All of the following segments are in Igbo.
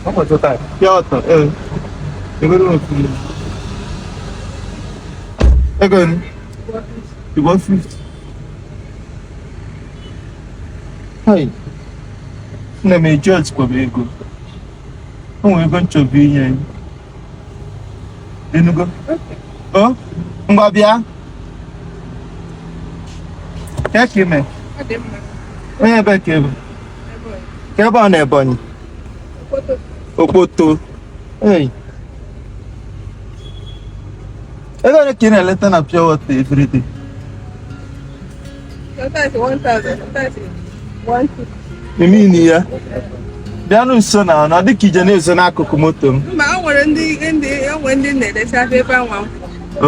Ọ bụ chọta ya ọtọ ee ebere otu ego ni ìbọn fifty. Hai nne m eji ọtịkwaba ego o nwere ego m chọbụ inye anyị inugo o ngwa bịa kee ka ime onye ebe ka ị bụ ị bụ onye Ebonyi Okpoto ei ego ole ka ị na-eleta na pure water everyday ị mean ya bịanụ nso na ọ dịka ị je na-ezo n'akụkụ moto m mba o nwere ndị ndị o nwere ndị na-eleta ebe anwa m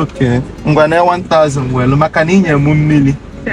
okay ngwa na 1000 welu maka na inye m mmili kwụ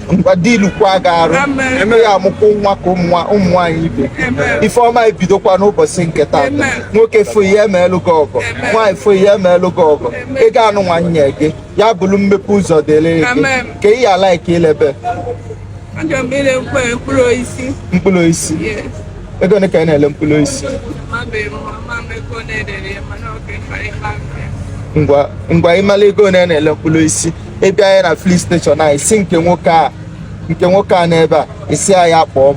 ngwa dilukwa gị arụ eme ya amụkwa nwa ka ụmụ nwaanyị ibe ife ọma ebidokwa n'ụbọchị nke taata nwoke fụ ihe emeelụ gị ọgọ nwaanyị fụ ihe emeelụ gị ọgọ ego anụnwa nye gị ya bụrụ mmepe ụzọ dịrị gị ka ị ya like ilebe mkpụrụ osisi mkpụrụ osisi ego ole ka ị na-ele mkpụrụ osisi ngwa ịmala ego ole a na-ele mkpụrụ osisi ị bịa ya na filling station a ị sị nke nwoke a nke nwoke a n'ebe a ị sị ya kpọọ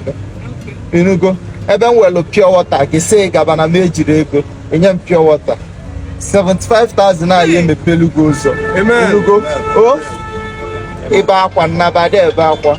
m inugo ebe m welu pure water gị sị gaba na m ejirọ ego i nye m pure water 75,000 a ya emepelu gị ụzọ Amen. inugo o ibe akwa nnabadị ebe akwa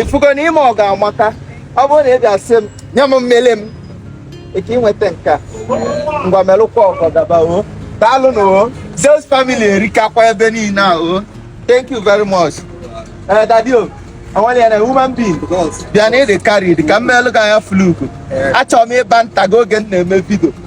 ifugo na ime ọgọ amaka ọ bụrụ na ị bịa sị m nye m mmili m ị ka inweta nke a ngwa melụkwa ọgọ gaba o daalụ nụ o Zeus family erikakwa ebe niile a o thank you very much ee eh, daddy o o nwere ya na human being bịa na ịdị karịa ka m meelụ gị anya fluku eh. achọrọ m ịba nta gị oge m na-eme video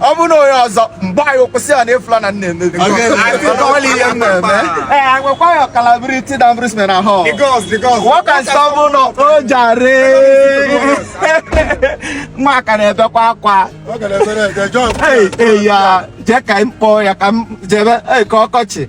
ọ bụ na onye ọzọ mgbe anyị kwụsị ya na ịfụla na nna emebi ọla ihe m na-eme ee agwakwa ya ọkalabiriti na mbrisme na hall nwoke nsọ bụ na o jare nwa aka na-ebekwa akwa eyi ya jee ka m kpọọ ya ka m jebe ee ka ọkọchị